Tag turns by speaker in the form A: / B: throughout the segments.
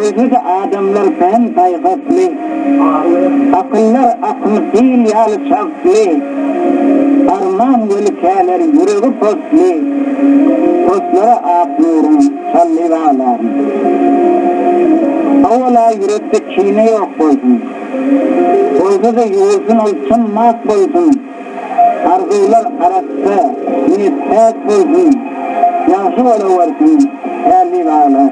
A: Özüde adamlar kän paýhasly, akyllar akyl sil ýaly çagtly, arman weli käler ýüregi posly, poslara ak nuruň çaldy baglar. Howala ýürekde kine ýok bolsun, bolsa-da ýuwulsyn ol çyn mak bolsun. Arzuwlar arassa, iýip päk bolsun, Ýagşy bolawersin Pärli bala.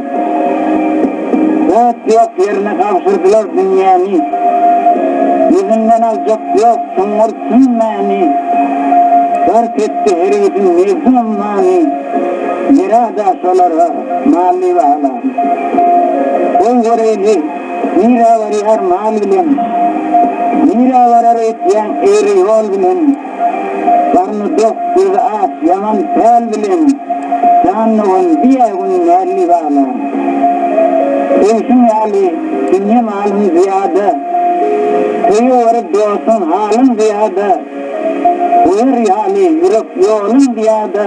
A: Zat ýok ýerine gabşyrdylar dünýäni, Ýüzünden aljak ýok çuňňur çyn mäni, Gark etdi herbisin nebzi-ummany, Ýere-ada şolara mally bala. Goý göreýli! Nirä baryň arman bilen, Nirä barar etýäň egri ýol bilen. Garny dok, gözi ak, ýaman päl bilen, Jan dogan, diýä gün märli bala. Söýşüň ýaly, dünýe malym zyýada, Köýe baryp dostuň halym zyýada, Goýar ýaly, ýürek ýolum zyýada.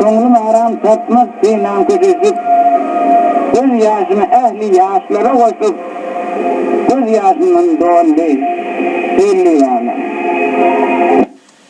A: Köňlüm aram tapmaz synan köşeşip, Göz ýaşymy ähli ýaşlara goşup, Göz ýaşymdan doldy hellewana.